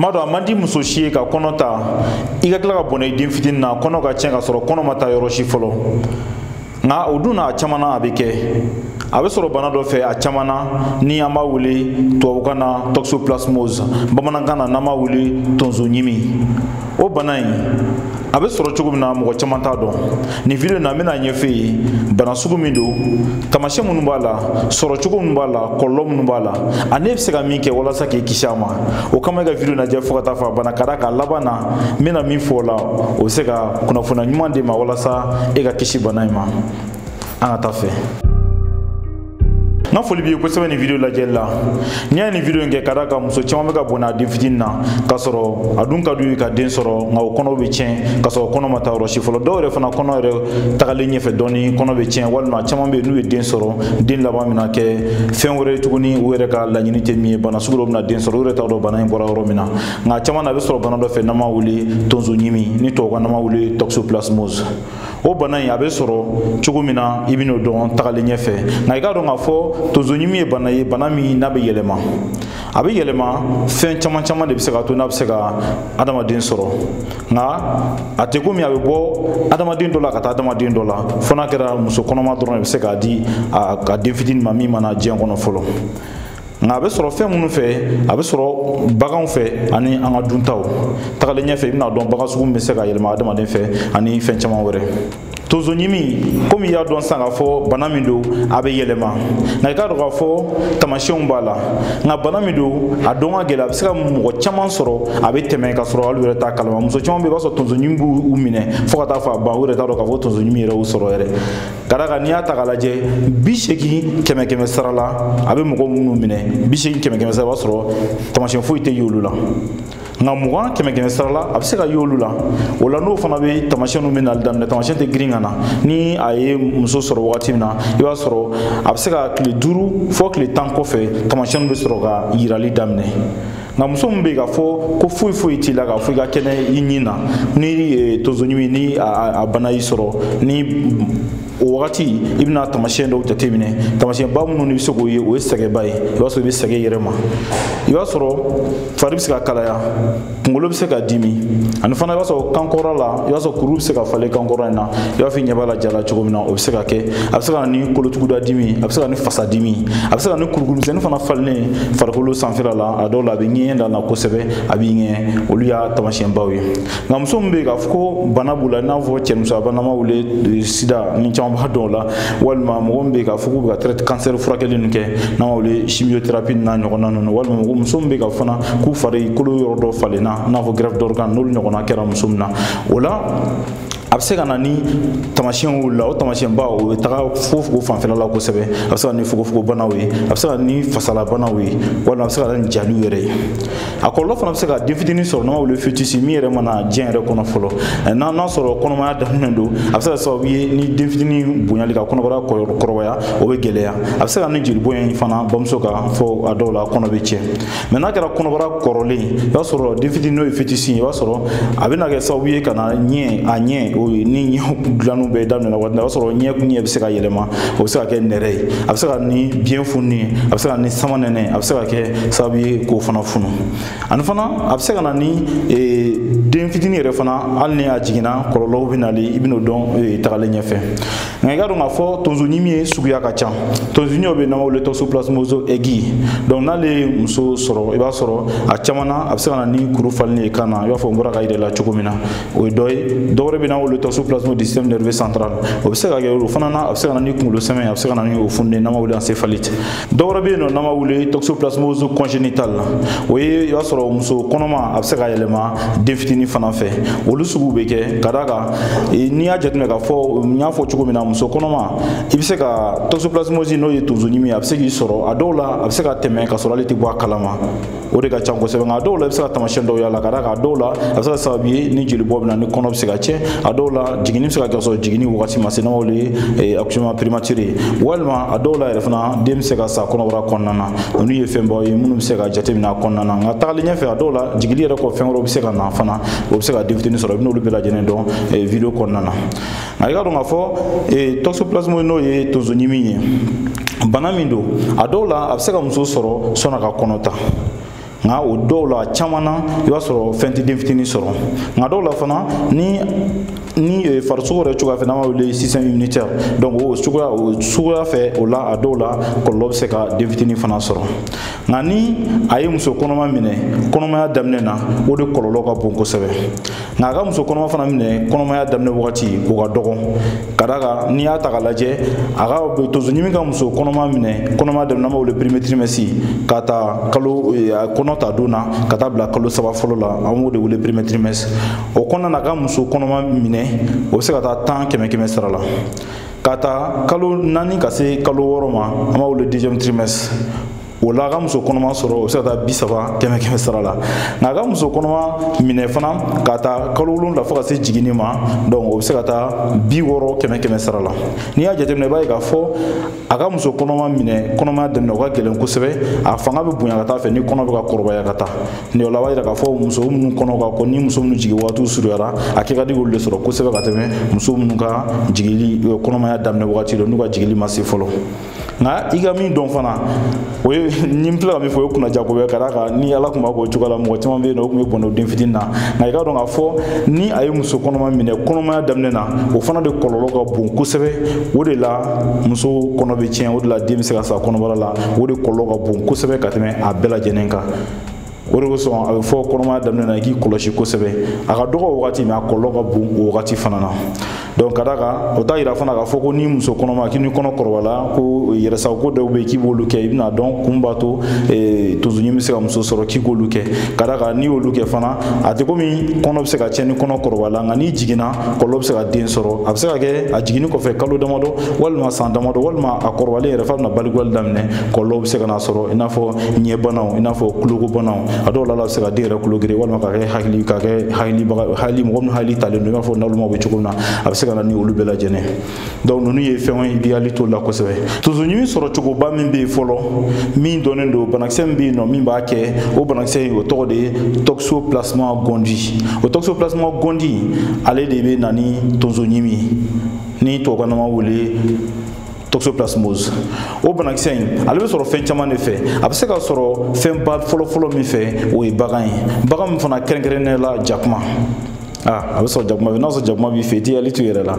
n b'a dɔn a man di muso si ye ka kɔnɔ ta i ka tila ka bɔnɛ i den fitini na kɔnɔ ka tiɲɛ ka sɔrɔ kɔnɔ ma taa yɔrɔ si fɔlɔ nka o dun na a caman na a bɛ kɛ a bɛ sɔrɔ bana dɔ fɛ a caman na ni an b'a wele tubabukan na toxoplasmose bamanankan na n'an b'a wele tonso ɲimi o bana in a bɛ sɔrɔ cogo min na mɔgɔ caman t'a dɔn nin video in na n bɛn'a ɲɛfɔ i ye bana sugu min don taamasiyɛn minnu b'a la sɔrɔ cogo minnu b'a la kɔlɔlɔ minnu b'a la ani e bɛ se ka min kɛ walasa k'i kisi a ma o kama i ka video lajɛ fo ka taa fɔ a bana ka da kan a laban na n bɛna min fɔ o la o bɛ se ka kunnafoniya ɲuman d'e ma walasa e ka kisi bana in ma an ka taa a fɛ. n ka foli b'i ye kosɛbɛ nin video lajɛli la n'i y'a ye n ye video in kɛ ka da kan muso caman bɛ ka bɔnɛ a den fitini na k'a sɔrɔ a dun ka d'u ye ka den sɔrɔ nka o kɔnɔw bɛ tiɲɛ k'a sɔrɔ kɔnɔ ma taa yɔrɔ si fɔlɔ dɔw yɛrɛ fana kɔnɔ yɛrɛ tagalen ɲɛfɛ dɔɔni kɔnɔ bɛ tiɲɛ walima caman bɛ yen n'u ye den sɔrɔ den laban bɛna kɛ fɛn wɛrɛ ye tuguni u yɛrɛ ka laɲini tɛ min ye bana sugu dɔ bɛna den sɔrɔ u yɛrɛ t'a dɔn bana in bɔra yɔrɔ min na nka caman na a bɛ sɔrɔ bana dɔ fɛ n'an b'a wele tonso ɲimi ni tubabukan na an b'a wele toxoplasmose o bana in a bɛ sɔrɔ cogo min na i bɛn'o dɔn tagalen ɲɛfɛ nka i k'a dɔn k'a fɔ tonsoɲimi ye bana ye bana min n'a bɛ yɛlɛma a bɛ yɛlɛma fɛn caman caman de bɛ se k'a to n'a bɛ se ka adamaden sɔrɔ nka a tɛ komi a bɛ bɔ adamaden dɔ la ka taa adamaden dɔ la fo n'a kɛra muso kɔnɔma dɔrɔn de bɛ se k'a di a den fitinin ma min ma na diɲɛ kɔnɔ fɔlɔ nka a bɛ sɔrɔ fɛn minnu fɛ a bɛ sɔrɔ baganw fɛ ani an ka duntaw tagalen ɲɛfɛ i bɛn'a dɔn bagan sugu min bɛ se k'a yɛlɛma adamaden fɛ ani fɛn caman wɛrɛ tonso ɲimi komi i y'a dɔn sisan k'a fɔ bana min don a bɛ yɛlɛma nka i k'a dɔn k'a fɔ tamasiyɛnw b'a la nka bana min don a dɔn ka gɛlɛn a bɛ se ka mɔgɔ caman sɔrɔ a bɛ tɛmɛ k'a sɔrɔ hali u yɛrɛ t'a kalama muso caman bɛ yen i b'a sɔrɔ tonso ɲimi b'u minɛ fo ka taa fɔ a ban u yɛrɛ t'a dɔn k'a fɔ tonso ɲimi yɛrɛ y'u sɔrɔ yɛrɛ ka da kan n'i y'a ta k'a lajɛ bi seegin kɛmɛ kɛmɛ sara la a bɛ mɔgɔ minnu minɛ bi seegin kɛmɛ kɛmɛ sara i b'a sɔrɔ tamasiyɛn foyi tɛ y'olu la nka mugan kɛmɛ kɛmɛ sara la a bɛ se ka y'olu la o la n'o fana bɛ tamasiyɛn ninnu bɛ nali daminɛ tamasiyɛn tɛ girin ka na ni a ye muso sɔrɔ wagati min na i b'a sɔrɔ a bɛ se ka tile duuru fɔ tile tan kɔfɛ tamasiyɛn bɛ sɔrɔ ka yirali daminɛ nka muso min bɛ yen k'a fɔ ko foyi foyi t'i la k'a fɔ i ka kɛnɛ i ɲin na ni eh, tonsoɲimi ni a bana y'i sɔrɔ ni o wagati i bɛna tamasiyɛn dɔw jateminɛ tamasiyɛnba minnu n'i bɛ se k'o ye o ye sɛgɛnba ye i b'a sɔrɔ i bɛ sɛgɛn i yɛrɛ ma i b'a sɔrɔ fari bɛ se ka kalaya kunkolo bɛ se ka dimi ani fana i b'a sɔrɔ kankɔrɔ la i b'a sɔrɔ kuru bɛ se ka falen kankɔrɔ in na i b'a fɔ i ɲɛ b'a la ja la cogo min na o bɛ se ka kɛ a bɛ se ka na ni kolotuguda dimi a bɛ se ka na ni fasa dimi a bɛ se ka na ni kurukuru misɛnnin fana falennen farikolo sanfɛla la a dɔw la a bɛ ɲɛɲɛ da la kosɛbɛ a b'i ŋɛɲɛ olu y'a taamasiyɛnbaw ye nka muso min bɛ yen k'a fɔ ko bana b'u la i n'a fɔ cɛnimusoya bana n'an b'a wele sida ni caman b'a dɔn o la walima mɔgɔ min bɛ yen k'a fɔ k'u bɛ ka traite kansɛri furakɛli ninnu kɛ n'an b'a wele chimiothérapie n'a ɲɔgɔnna ninnu walima mɔgɔ muso min bɛ yen ka fana k'u farikolo yɔrɔ dɔ falenna i n'a fɔ greffe d'organe n'olu ɲɔgɔnna kɛra muso min na o la a bɛ se ka na ni taamasiyɛnw y'u la o taamasiyɛnba o bɛ taga fogofogo fanfɛla la kosɛbɛ a bɛ se ka na ni fogofogobanaw ye a bɛ se ka na ni fasalabanaw ye walima a bɛ se ka na ni jaliw yɛrɛ ye a kɔlɔlɔ fana bɛ se ka den fitinin sɔrɔ n'an b'a wele fœtus min yɛrɛ ma na diɲɛ yɛrɛ kɔnɔ fɔlɔ n'a n'a sɔrɔ kɔnɔmaya daminɛ don a bɛ se ka sababu ye ni den fitinin bonyali ka kɔnɔbara kɔrɔbaya o bɛ gɛlɛya a bɛ se ka na ni jeli bɔn in fana bamuso ka fɔ a dɔw la kɔnɔ bɛ tiɲɛ mais n'a kɛra kɔnɔbara kɔrɔlen i b'a sɔrɔ den fitini n'o ye fœtus i b'a sɔrɔ a bɛna kɛ sababu ye ka na ɲɛ a ɲɛ o ye ni ɲɛ dilanniw bɛɛ daminɛna waati la i b'a sɔrɔ ɲɛ ɲɛ bɛ se ka yɛlɛma o bɛ se ka kɛ nɛrɛ ye a bɛ se ka ni biɲɛ fununi ye a bɛ se ka ni samanɛnɛ a bɛ se ka kɛ sababu ye k'o fana funu ani fana a bɛ se ka na ni e, den fitini yɛrɛ fana hali ni a jiginna kɔlɔlɔw bɛ n'a la i bɛn'o dɔn e, tagalen ɲɛfɛ nka i k'a dɔn k'a fɔ tonso ɲimi ye suguya ka ca tonso ɲimi o bɛ yen n'an b'a wele toxoplasmose aiguë donc n'ale ye muso sɔrɔ i b'a sɔrɔ a caman na a bɛ se ka na ni kuru falenni ye kan na i b'a fɔ n bɔra k'a yir'a la cogo min na o ye dɔ ye dɔwɛrɛ bɛ yen n'an b'a wele toxoplasmose du système nerveux central o bɛ se ka kɛ o fana na a bɛ se ka na ni kunkolo sɛmɛ a bɛ se ka na ni o fununen n'an b'a wele encéphalite dɔwɛrɛ bɛ yen nɔ n'an b'a wele toxoplasmose congénitale o ye i b'a sɔrɔ muso kɔnɔma a bɛ se ka yɛlɛma den fitinin fana fɛ olu sugu bɛ kɛ ka d'a kan n'i y'a jateminɛ k'a fɔ n y'a fɔ cogo min na muso kɔnɔma i bɛ se ka toxoplasmose n'o ye tonso ɲimi ye a bɛ se k'i sɔrɔ a dɔw la a bɛ se ka tɛmɛ ka sɔrɔ ale tɛ bɔ a kalama o de ka ca kosɛbɛ nka a dɔw la i bɛ se ka taamasiyɛn dɔw y'a la ka d'a kan a dɔw la a bɛ se ka sababu ye ni jeli bɔn bɛ na ni kɔnɔ bɛ se ka tiɲɛ a dɔw la jiginni bɛ se ka kɛ sɔrɔ jiginni wagati ma se n'an b'a wele accouchement prématuré walima a dɔw la yɛrɛ fana den bɛ se ka sa kɔnɔbara kɔnɔna na olu ye fɛnbaw ye minnu bɛ se ka jateminɛ a kɔnɔna na nka tagalen ɲɛfɛ a dɔw la jiginni yɛrɛ kɔ fɛn wɛrɛw bɛ se ka na fana o bɛ se ka den fitini sɔrɔ i bɛn'olu bɛɛ lajɛlen dɔn video kɔnɔna na nka i k'a dɔn k'a fɔ eh, toxoplasmose n'o ye tonso ɲimi ye bana min don a dɔw la a bɛ se ka muso sɔrɔ sani a ka kɔnɔ ta nka o dɔw la caman na i b'a sɔrɔ fɛn tɛ den fitinin sɔrɔ nka dɔw la fana ni ni eh, farisogo yɛrɛ cogoya fɛ n'an b'a wele système immunitaire donc o suguya o suguya fɛ o la a dɔw la kɔlɔlɔ bɛ se ka den fitinin fana sɔrɔ nka ni a ye muso kɔnɔma minɛ kɔnɔmaya daminɛ na o de kɔlɔlɔ ka bon kosɛbɛ nka a ka muso kɔnɔma fana minɛ kɔnɔmaya daminɛ wagati o ka dɔgɔn ka d'a kan n'i y'a ta k'a lajɛ a ka tonso ɲimi ka muso kɔnɔma minɛ kɔnɔmaya daminɛ n'an b'a wele premier trimestre ka ta kalo eh, kɔnɔ ta don na ka taa bila kalo saba fɔlɔ la an b'o de wele premier trimestre o kɔnɔna na a ka muso kɔnɔma minɛ o bɛ se ka taa tan kɛmɛ kɛmɛ sara la ka ta kalo naani ka se kalo wɔɔrɔ ma an b'a wele deuxième trimestre o la a ka muso kɔnɔma sɔrɔ o bɛ se ka taa bi saba kɛmɛ kɛmɛ sara la nka a ka muso kɔnɔma minɛ fana ka ta kalo wolonwula fo ka se jiginni ma donc o bɛ se ka taa bi wɔɔrɔ kɛmɛ kɛmɛ sara la n'i y'a jateminɛ i b'a ye k'a fɔ a ka muso kɔnɔma minɛ kɔnɔmaya daminɛ o ka gɛlɛn kosɛbɛ a fanga bɛ bonya ka taa fɛ ni kɔnɔ bɛ ka kɔrɔbaya ka taa nin o la a b'a yira k'a fɔ muso minnu kɔnɔ ka kɔ ni muso minnu jigin waatiw surunyara a kɛ ka di k'olu de sɔrɔ kosɛbɛ ka tɛmɛ muso minnu ka jigili kɔnɔmaya daminɛ wagati la n'u ka jigili ma se fɔlɔ nka i ka min dɔn fana o ye ni n filɛ ka min fɔ o ye kunnaja ko ye ka d'a kan ni ala tun b'a k'o cogoya la mɔgɔ caman bɛ yen nɔ o tun bɛ bɔnɛ o den fitinin na nka i k'a dɔn k'a fɔ ni a ye muso kɔnɔma minɛ kɔnɔmaya daminɛ na o fana de kɔlɔlɔ ka bon kosɛbɛ o de la muso kɔnɔ bɛ tiɲɛ o de la den bɛ se ka sa kɔnɔbara la o de kɔlɔlɔ ka bon kosɛbɛ ka tɛmɛ a bɛɛ lajɛlen kan o de kosɔn a bɛ fɔ kɔnɔmaya daminɛ na i k'i kɔlɔsi kosɛbɛ a ka dɔgɔ o wagati mais a kɔlɔlɔ ka bon o wagati fana na donc ka d'a kan o t'a yira fana k'a fɔ ko ni muso kɔnɔma k'i ni kɔnɔ kɔrɔbayala ko yɛrɛsagoko dɔw bɛ yen k'i b'olu kɛ i bɛn'a dɔn k'u b'a to eh, tonsoɲimi bɛ se ka muso sɔrɔ k'i k'olu kɛ ka d'a kan n'i y'olu kɛ fana a tɛ komi kɔnɔ bɛ se ka tiɲɛ ni kɔnɔ kɔrɔbayala nka n'i jiginna kɔlɔlɔ bɛ se ka den sɔrɔ a bɛ se ka kɛ a jiginni kɔfɛ kalo damadɔ walima san damadɔ walima a kɔrɔbalen yɛrɛ f'a bɛna balikuya daminɛ kɔlɔlɔ bɛ se ka n'a sɔrɔ i n'a fɔ ɲɛbanaw i n'a fɔ kulokobanaw a dɔw la a bɛ se ka den yɛrɛ kulo geren walima ka kɛ hakili ka kɛ hakilibaga hakili mɔgɔ min hakili talen don i n'a fɔ nalonmaw bɛ cogo min na a bɛ se ka na ni olu bɛɛ lajɛlen donc ninnu ye fɛnw ye i b'i hakili t'o la kosɛbɛ tonsoɲimi sɔrɔcogoba min bɛ yen fɔlɔ min dɔnnen don banakisɛ min bɛ yen nɔ min b'a kɛ o banakisɛ in o tɔgɔ de ye toxoplasma gondii o toxoplasma gondii ale de bɛ na ni tonsoɲimi ni tubabukan na an b'a wele toxoplasmose o banakisɛ in ale bɛ sɔrɔ fɛn caman de fɛ a bɛ se ka sɔrɔ fɛnba fɔlɔfɔlɔ min fɛ o ye bagan ye bagan min fana kɛrɛnkɛrɛnnen la jakuma a bɛ sɔrɔ jakuma fɛ n'a sɔrɔ jakuma b'i fɛ i t'i hakili to i yɛrɛ la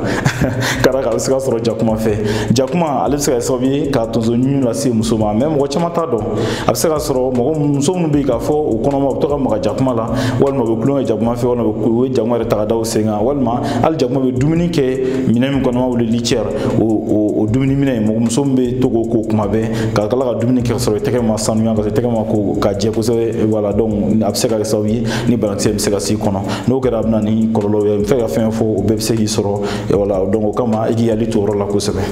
ka d'a kan a bɛ se ka sɔrɔ jakuma fɛ jakuma ale bɛ se ka kɛ sababu ye ka tonso ɲimi lase muso ma mais mɔgɔ caman t'a dɔn a bɛ se ka sɔrɔ mɔgɔ muso minnu bɛ yen k'a fɔ u kɔnɔma u bɛ to ka maga jakuma la walima u bɛ kulonkɛ jakuma fɛ walima u bɛ jakuma yɛrɛ ta ka da u sen kan walima hali jakuma bɛ dumuni kɛ minɛn min kɔnɔ an b'a wele litière o o dumuni minɛn mɔgɔ muso min bɛ to k'o ko kuma bɛɛ ka tila ka dumuni kɛ ka sɔrɔ i tɛgɛ ma sanuya ka sɔrɔ i tɛgɛ ma ko ka jɛ kosɛbɛ voilà donc a bɛ se ka kɛ sababu ye ni banakisɛ bɛ se ka s'i kɔnɔ n'o kɛra a bɛ na ni kɔlɔlɔ ye fɛn ka fɛn fɔ o bɛɛ bɛ se k'i sɔrɔ voilà donc o kama i k'i hakili to o yɔrɔ la kosɛbɛ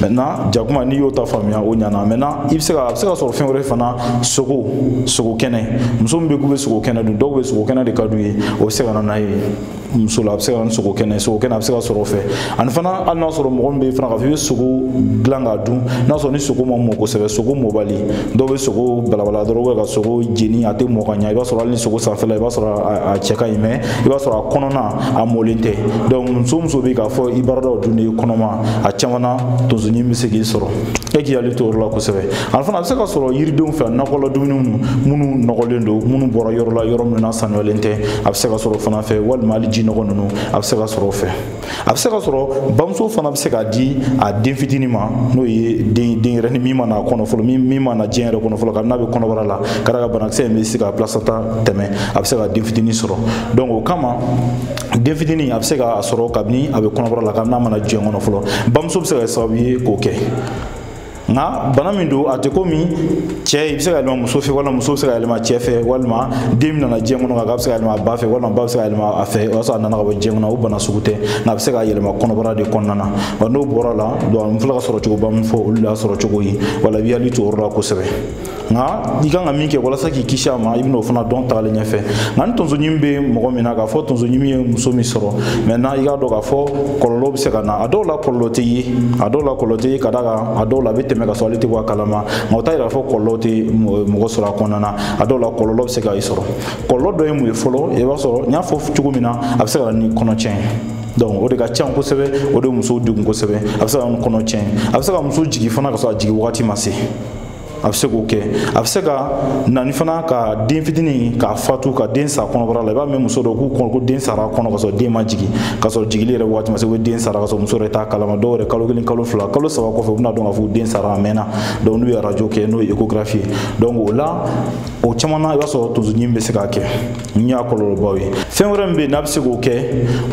maintenant jakuma n'i y'o ta faamuya o ɲana maintenant i bɛ se ka a bɛ se ka sɔrɔ fɛn wɛrɛ fana sogo sogo kɛnɛ muso min bɛ k'u bɛ sogo kɛnɛ dun dɔw bɛ sogo kɛnɛ de ka d'u ye o bɛ se ka na n'a ye muso la a bɛ se ka na ni sogo kɛnɛ sogo kɛnɛ a bɛ se ka sɔrɔ o fɛ ani fana hali n'a sɔrɔ mɔgɔ min bɛ yen fana k'a fɔ i bɛ sogo dilan k'a dun n'a sɔrɔ ni sogo ma mɔ kosɛbɛ sogo mɔbali dɔw bɛ sogo balabala dɔrɔn ka sogo jeni a tɛ mɔ ka ɲɛ i b'a sɔrɔ hali ni sogo sanfɛla i b'a sɔrɔ a cɛ ka ɲi mais i b'a sɔrɔ a kɔnɔna a mɔlen tɛ donc muso muso bɛ k'a fɔ i baaradaw dun de ye kɔnɔma a caman na tonso ɲimi bɛ se k'i sɔrɔ e k'i hakili to o yɔrɔ la kosɛbɛ a fana a bɛ se ka sɔrɔ yiridenw fɛ nakɔla dumuniw minnu nɔgɔlen don minnu bɔra yɔrɔ la yɔrɔ minnu na sanuyalen tɛ a bɛ se ka sɔrɔ fana fɛ walima hali ji nɔgɔ ninnu a bɛ se ka sɔrɔ o fɛ a bɛ se ka sɔrɔ bamuso fana bɛ se k'a di a den fitinin ma n'o ye den denyɛrɛni min ma na kɔnɔ fɔlɔ min min ma na diɲɛ yɛrɛ kɔnɔ fɔlɔ kabini n'a bɛ kɔnɔbara la ka d'a kan banakisɛ in bɛ se ka placenta tɛmɛ a bɛ se ka den fitinin sɔrɔ donc o kama den fitinin a bɛ se k'a sɔrɔ kabini a bɛ kɔnɔbara la kabini n'a ma na diɲɛ kɔnɔ fɔlɔ bamuso bɛ se ka kɛ sababu ye k'o kɛ nka bana min don a tɛ komi cɛ i bɛ se k'a yɛlɛma muso fɛ walima muso bɛ se k'a yɛlɛma cɛ fɛ walima den min nana diɲɛ kɔnɔ k'a bɛ se k'a yɛlɛma a ba fɛ walima ba bɛ se k'a yɛlɛma a fɛ o y'a sɔrɔ a nana ka bɔ diɲɛ kɔnɔ o bana sugu tɛ nka a bɛ se ka yɛlɛma kɔnɔbara de kɔnɔna na wa n'o bɔra a la donc n filɛ k'a sɔrɔcogoba min fɔ olu de y'a sɔrɔcogo ye voilà i b'i hakili to o yɔrɔ la kosɛbɛ nka i kan ka min kɛ walasa k'i kisi a ma i bɛn'o fana dɔn tagalen ɲɛfɛ nka ni tonso ɲimi bɛ mɔgɔ min na k'a fɔ tonso ɲimi ye muso min sɔrɔ maintenant i k'a dɔn k'a fɔ kɔlɔlɔ bɛ se ka na a dɔw la kɔlɔlɔ tɛ ye a dɔw la kɔlɔlɔ tɛ ye ka d'a kan a dɔw la a bɛ tɛmɛ ka sɔrɔ ale tɛ bɔ a kalama nka o t'a yira k'a fɔ kɔlɔlɔ tɛ mɔgɔ sɔrɔ a kɔnɔna na a dɔw la kɔlɔlɔ bɛ se ka i sɔrɔ kɔlɔlɔ dɔ ye mun ye fɔlɔ i b'a sɔrɔ n y'a fɔ cogo min na a bɛ se ka na ni kɔnɔtiɲɛ ye donc o de ka ca kosɛbɛ o de ye musow degun kosɛbɛ a bɛ se ka kɔnɔ tiɲɛ a bɛ se ka muso jigin fana ka sɔrɔ a jigin wagati ma se a bɛ se k'o kɛ a bɛ se ka na ni fana ka den fitinin k'a fatu ka den sa kɔnɔbara la i b'a mɛn muso dɔ k'u kɔnɔ ko den sara a kɔnɔ ka sɔrɔ den ma jigin ka sɔrɔ jigili yɛrɛ waati ma se ko den sara ka sɔrɔ muso yɛrɛ t'a kalama dɔw yɛrɛ kalo kelen kalo fila kalo saba kɔfɛ u bɛn'a dɔn k'a fɔ den sara a mɛnna donc n'u ye arajo kɛ n'o ye échographie ye donc o la o caman na i b'a sɔrɔ tonso ɲimi bɛ se k'a kɛ nin y'a kɔlɔlɔbaw ye fɛn wɛrɛ min bɛ yen n'a bɛ se k'o kɛ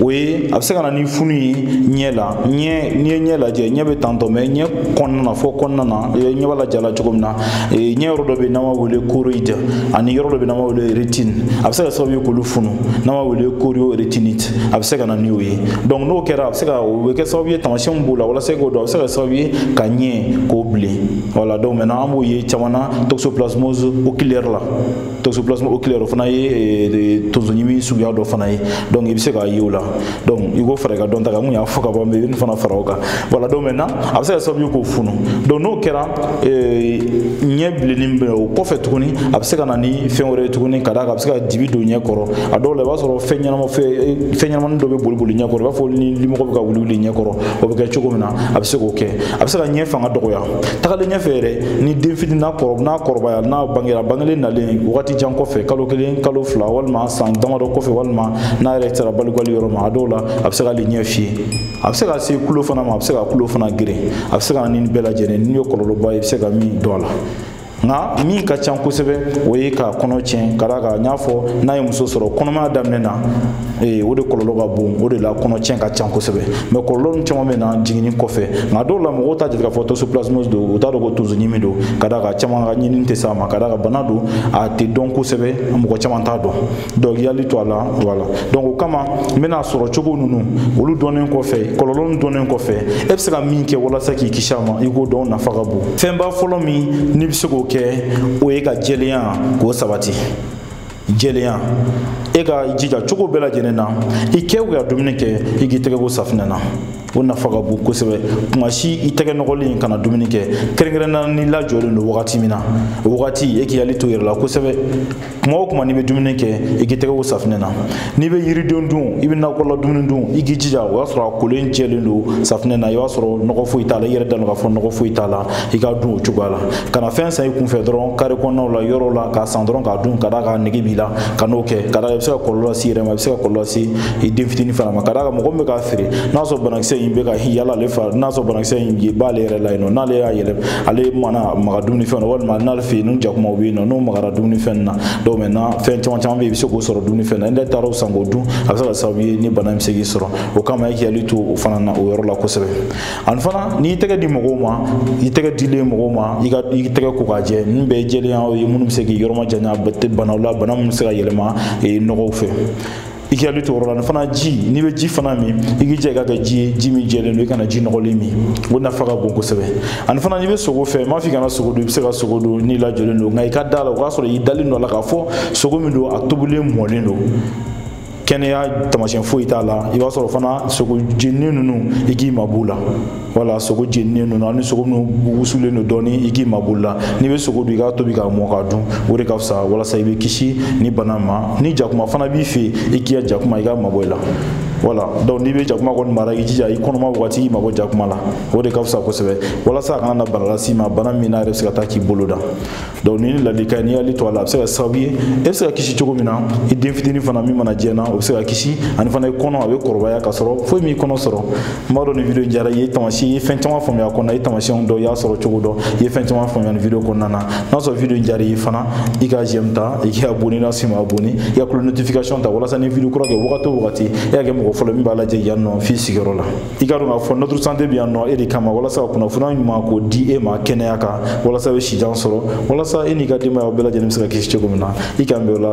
o ye a bɛ se ka na ni funu ye ɲɛ la ɲɛ n'i ye ɲɛ lajɛ ɲɛ bɛ tantɔ mais ɲɛ kɔnɔna na fɔ kɔnɔna na ɲɛ b'a lajɛ la cogo min na ɲɛ yɔrɔ dɔ bɛ yen n'an b'a wele choroïde ani yɔrɔ dɔ bɛ yen n'an b'a wele rétine a bɛ se ka sababu ye k'olu funu n'an b'a wele choriorétinite a bɛ se ka na n'o ye donc n'o kɛra a bɛ se ka o bɛ kɛ sababu ye taamasiyɛn min b'o la walasa k'o dɔn a bɛ se ka kɛ sababu ye ka ɲɛ k'o bilen voilà donc maintenant an b'o ye caman na toxoplasmose oculaire la toxoplasmose oculaire o fana ye eh, tonsoɲimi suguya dɔ fana ye donc i bɛ se k'a ye o la donc i k'o fara i ka dɔnta kan n kun y'a fɔ ka ban mɛ i bɛ nin fana fara o kan voilà donc maintenant a bɛ se ka sababu ye k'o funu donc n'o kɛra eh, ɲɛ bilenni bɛ o kɔfɛ tuguni a bɛ se ka na ni fɛn wɛrɛ ye tuguni ka d'a kan a bɛ se ka dibi don ɲɛ kɔrɔ a dɔw la i b'a sɔrɔ fɛn ɲɛnama eh, fɛn ɲɛnamani dɔ bɛ boli boli ɲɛ kɔrɔ i b'a fɔ ni limɔgɔ bɛ ka wuli wuli ɲɛ kɔrɔ o bɛ kɛ cogo min na a bɛ se k'o kɛ a bɛ se ka ɲɛ fanga dɔgɔya tagalen ɲɛfɛ yɛrɛ ni den fitinin n'a kɔrɔ n'a kɔrɔbaya n'a bangera bangelen nalen wagati jan kɔfɛ kalo kelen kalo fila walima san damadɔ kɔfɛ walima n'a yɛrɛ sera balikuyali yɔrɔ ma a dɔw la a bɛ se k'ale ɲɛ fiyɛ a bɛ se ka se kulo fana ma a bɛ se ka kulo fana geren a bɛ se ka na ni nin bɛɛ lajɛlen nin ye kɔlɔlɔba ye i bɛ se ka min dɔn a la nka min ka ca kosɛbɛ o ye ka kɔnɔ tiɲɛ ka d'a kan n y'a fɔ n'a ye muso sɔrɔ kɔnɔmaya daminɛ na ee o de kɔlɔlɔ ka bon o de la kɔnɔtiɲɛ ka ca kosɛbɛ mɛ kɔlɔlɔ nu caman bɛ na jiginni kɔfɛ nka dɔw la mɔgɔw t'a jate k'a fɔ toxoplasmose don u t'a dɔn ko tonso ɲimi don ka d'a kan caman ka ɲinini tɛ s'a ma ka d'a kan bana don a tɛ dɔn kosɛbɛ mɔgɔ caman t'a dɔn donc i hakili to a la voilà donc o kama nin bana sɔrɔ cogo ninnu olu dɔnnen kɔfɛ kɔlɔlɔ nu dɔnnen kɔfɛ e bɛ se ka min kɛ walasa k'i kisi a ma i k'o dɔn nafa ka bon fɛnba fɔlɔ min n'i bɛ se k'o kɛ o ye ka jɛlenya k'o sabati jɛlenya e ka i jija cogo bɛɛ lajɛlen na i kɛ ka dumuni kɛ i k'i tɛgɛ ko safinɛ na o nafa ka bon kosɛbɛ tuma si i tɛgɛ nɔgɔlen kana dumuni kɛ kɛrɛnkɛrɛnnenya n'i lajɔlen don wagati min na o wagati e k'i hakili to i yɛrɛ la kosɛbɛ kuma o kuma n'i bɛ dumuni kɛ i k'i tɛgɛ ko safinɛ na n'i bɛ yiriden dun i bɛ nakɔla dumuni dun i k'i jija o y'a sɔrɔ a kolen jɛlen don safinɛ na i b'a sɔrɔ nɔgɔ foyi t'a la i yɛrɛ dalen don k'a fɔ nɔgɔ foyi t'a la i k'a dun o cogoya la kana fɛn san i kunfɛ dɔrɔn kare kɔnɔnaw la yɔrɔw la k'a san dɔrɔn k'a dun ka d'a kan nege b'i la kan'o kɛ ka d'a kan i bɛ se ka kɔlɔlɔ lase i yɛrɛ ma i bɛ se ka kɔlɔlɔ lase i den fitinin fana ma ka d'a kan mɔgɔ min bɛ k'a feere n'a sɔrɔ banakisɛ in bɛ ka yala ale fɛ n'a sɔrɔ banakisɛ in b'ale yɛrɛ la yen nɔ n'ale y'a yɛlɛ ale mana maga dumuni fɛn na walima n'ale fɛ yen ni jakumaw bɛ yen nɔ n'o magara dumuni fɛn na donc maintenant fɛn caman caman bɛ i bɛ se k'o sɔrɔ dumuni fɛn na n'i taara o san k'o dun a bɛ se ka sababu ye ni bana in bɛ se k'i sɔrɔ o kama i k'i hakili to o fana na o yɔrɔ la kosɛbɛ ani fana n'i tɛgɛ di mɔgɔw ma i tɛgɛ dilen mɔgɔw ma i ka i tɛgɛ ko k'a jɛ ninnu bɛɛ ye jɛlenya ye minnu bɛ se k'i yɔrɔ majanya banaw la bana minnu bɛ se ka yɛlɛma nɔgɔw fɛ i k'i hakili to o yɔrɔ la ani fana ji n'i bɛ ji fana min i k'i jija i ka kɛ ji ye ji min jɛlen don i kana ji nɔgɔlen min o nafa ka bon kosɛbɛ ani fana n'i bɛ sogo fɛ n m'a fɔ i kana sogo dun i bɛ se ka sogo dun n'i lajɔlen don nka i ka da la o k'a sɔrɔ i dalen don a la k'a fɔ sogo min don a tobilen mɔlen don kɛnɛya taamasiyɛn foyi t'a la i b'a sɔrɔ fana sogo jeninen ninnu i k'i mabɔ u la wala sogo jeninen ninnu ani sogo minnu wusulen don dɔɔni i k'i mabɔ olu la n'i bɛ sogo dun i k'a tobi k'a mɔ k'a dun o de ka fisa walasa i bɛ kisi nin bana ma ni jakuma fana b'i fɛ i k'i ka jakuma i k'a mabɔ i la voilà donc n'i bɛ jakuma kɔni mara i jija i kɔnɔma wagati i mabɔ jakuma la o de ka fisa kosɛbɛ walasa a kana na bana las'i ma bana min n'a yɛrɛ bɛ se ka taa k'i bolo da donc ni ladilikan n'i y'ale to a la a bɛ se ka sababu ye e bɛ se ka kisi cogo min na i den fitinin fana min mana jɛna o bɛ se ka kisi ani fana i kɔnɔ a bɛ kɔrɔbaya ka sɔrɔ foyi m'i kɔnɔ sɔrɔ n b'a dɔn nin video in diyara i ye tamasiyɛn i ye fɛn caman faamuya a kɔnɔ i ye tamasiyɛnw dɔn i y'a sɔrɔ cogo dɔn i ye fɛn caman faamuya nin video kɔnɔna na n'a sɔrɔ video in diyara i ye fana i ka j'aime ta i k'i abonné n'a si ma abonné i ka cloche notification ta walasa ni video kura kɛ wagati o wagati e ka kɛ mɔgɔ fɔlɔ min b'a lajɛ yan nɔ f'i sigiyɔrɔ la i ka dɔn k'a fɔ notre santé bɛ yan nɔ e de kama walasa ka kunnafoniya ɲuman k'o di e ma kɛnɛya kan walasa i bɛ sijan sɔrɔ walasa e n'i ka denbaya bɛɛ lajɛlen bɛ se ka kisi cogo min na i k'an bɛn o la